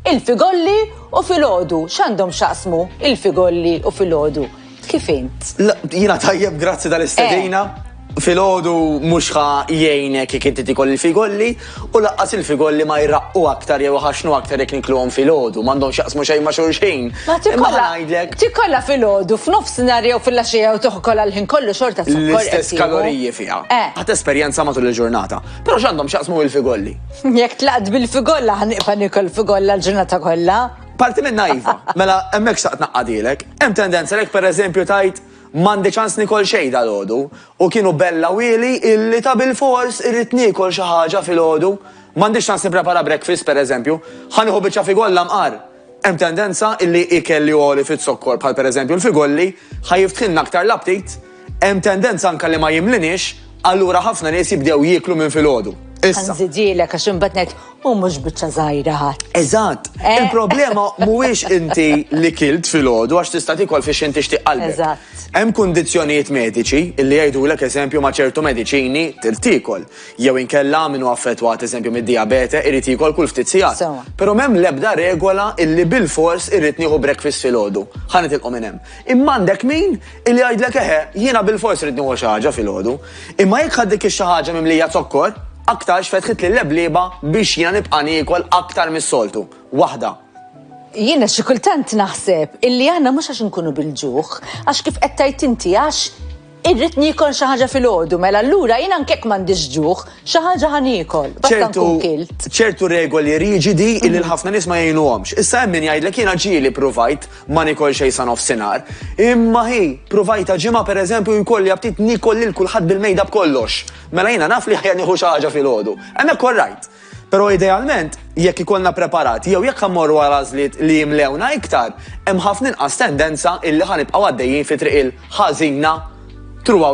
Il-figolli u filgħodu, x'għandhom x'jaqsmu il-figolli u filgħodu? Kif int? La, jiena tajjeb grazzi tal-istedina. Eh. Filgħodu mhux ħa jgħinek jekk inti tikol il-figolli u laqqas il-figolli ma jraqqu aktar jew ħaxnu aktar jekk nikluhom filgħodu, m'għandhomx jaqsmu xejn ma' xulxin. Ma tikolla ngħidlek. Tikolla filgħodu f'nofsinhar jew fil-għaxija jew toħkol għall-ħin kollu xorta L-istess kaloriji fiha. Eh. Ħadd esperjenza matul il-ġurnata. Però x'għandhom x'jaqsmu il-figolli? Jekk tlaqt bil-figolla ħan iqfa' nikol figolla l-ġurnata kollha. Parti minnha iva, mela hemmhekk xtaqt naqqadilek. Hemm tendenza lek pereżempju tgħid m'għandi ċans nikol xejn dalgħodu u kienu bella wieli illi ta' bilfors irrid niekol xi ħaġa filgħodu. M'għandix ċans nipprepara breakfast pereżempju, ħa nieħu biċċa figolla mqar. Hemm tendenza illi ikel li għoli fiz-zokkor bħal pereżempju l-figolli ħa jiftħilna aktar l-aptit, hemm tendenza anke li ma jimliniex, allura ħafna nies jibdew jieklu minn filgħodu. Issa. Ħa nżidilek għax imbagħad ngħid u mhux biċċa żgħira ħadd. Eżatt. Eh. Il-problema mhuwiex inti li kilt filgħodu għax tista' tikol fiex inti xtieq qalbek. Eżatt. Hemm kundizzjonijiet mediċi illi jgħidulek eżempju ma' ċertu mediċini tirtikol. Jew inkella min hu affettwat, eżempju, mid-dijabete irid jiekol kull ftit sigħat. Però m'hemm l-ebda regola illi bilfors irrid nieħu breakfast filgħodu. Ħa nitilqu minn hemm. Imma għandek min illi jgħidlek eħe, jiena bilfors irrid nieħu xi ħaġa filgħodu. Imma jekk ħadd dik ix-xi ħaġa mimlija zokkor, aktarx fetħitli l-leblieba biex jiena nibqa' niekol aktar mis-soltu. Waħda. Jiena xi kultant naħseb illi aħna mhux għax inkunu bil-ġuħ, għax kif qed tgħid inti, għax. Irrid niekol xi ħaġa filgħodu, mela allura jien anke jekk m'għandix ġuħ, xi ħaġa ħa niekol, basta nkun kilt. Ċertu regoli riġidi illi l-ħafna nies ma jgħinuhomx. Issa hemm min jgħidlek jiena ġieli pruvajt ma nikol xejn sa nofsinhar. Imma hi, pruvajta ġimgħa pereżempju jkolli aptit nikol lil kulħadd bil-mejda b'kollox. Mela jiena naf li ħja nieħu xi ħaġa filgħodu. Hemmhekk all right. Però idealment, jekk ikollna preparati jew jekk ħammorru għal għażliet li jimlewna iktar, hemm ħafna inqas tendenza illi ħanibqgħu għaddejjin fi triq il-ħażina throughout